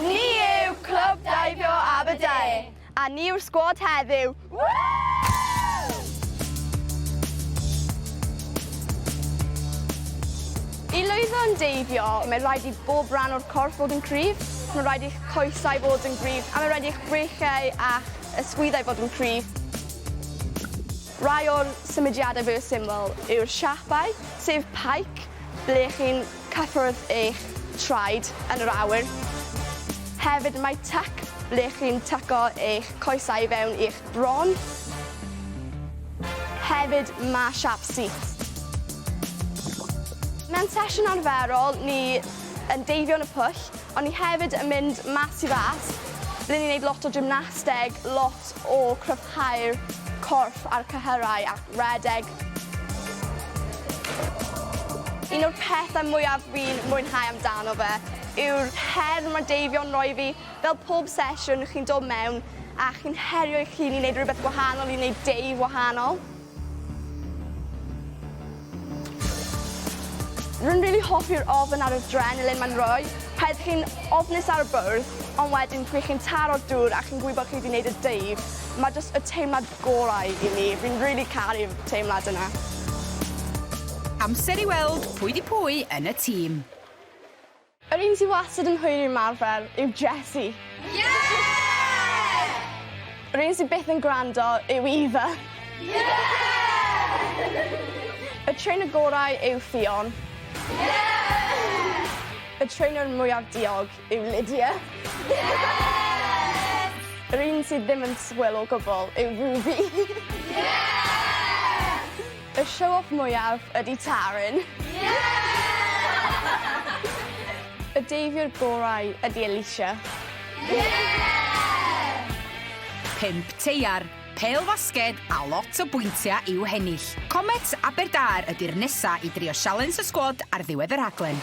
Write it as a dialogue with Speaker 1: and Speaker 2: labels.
Speaker 1: Ni yw Clwb Daibio Aberdare! A ni yw'r sgwad heddiw! I lwyddo yn deibio, mae'n rhaid i bob rhan o'r corff fod yn cryf, mae'n rhaid i'ch coesau fod yn gryf, a mae'n rhaid i'ch breichiau a'ch ysgwyddau fod yn cryf. Rhai o'r symudiadau fwyaf syml yw'r siapau, sef pike, ble chi'n Cyffordd eich traed yn yr awyr. Hefyd mae tuck ble chi'n tyco eich coesau i fewn i'ch bron. Hefyd mae sharp seat. Mewn sesiwn arferol ni yn deifio yn y pwll ond ni hefyd yn mynd mas i fas ble ni'n neud lot o gymnasteg, lot o cryfhau'r corff a'r cyhyrau a rhedeg. Un o'r pethau mwyaf fi'n mwynhau amdano fe yw'r her mae Deifio'n rhoi fi. Fel pob sesiwn, chi'n dod mewn a chi'n herio eich hun i wneud rhywbeth gwahanol, i wneud Dave wahanol. Rwy'n rili hoffi'r ofn a'r adrenalin mae'n rhoi. Pan ydych chi'n ofnus ar y bwrdd, ond wedyn pryd chi'n taro'r dŵr a chi'n gwybod chi wedi wneud y Dave, mae jyst y teimlad gorau i mi. Fi'n rili caru'r teimlad yna. Amser
Speaker 2: i weld pwy 'di pwy yn y tîm.
Speaker 1: Yr un sy wastad yn hwyr ymarfer yw Jessie. Yeah!
Speaker 3: Yr un sy byth
Speaker 1: yn gwrando yw Eva. Yeah!
Speaker 3: Y trainer
Speaker 1: gorau yw Ffion. Yeah!
Speaker 3: Y
Speaker 1: trainer mwyaf diog. yw Lydia.
Speaker 3: Yr un sydd ddim
Speaker 1: yn swil o gwbl yw Ruby.
Speaker 3: Y show off
Speaker 1: mwyaf ydy Taryn.
Speaker 3: Y
Speaker 1: deifiwr gorau ydy Alicia.
Speaker 3: Pump
Speaker 2: teiar, pêl fasged a lot o bwyntiau i'w hennill. Comets Aberdâr ydy'r nesa i drio sialens y sgwad ar ddiwedd y rhaglen.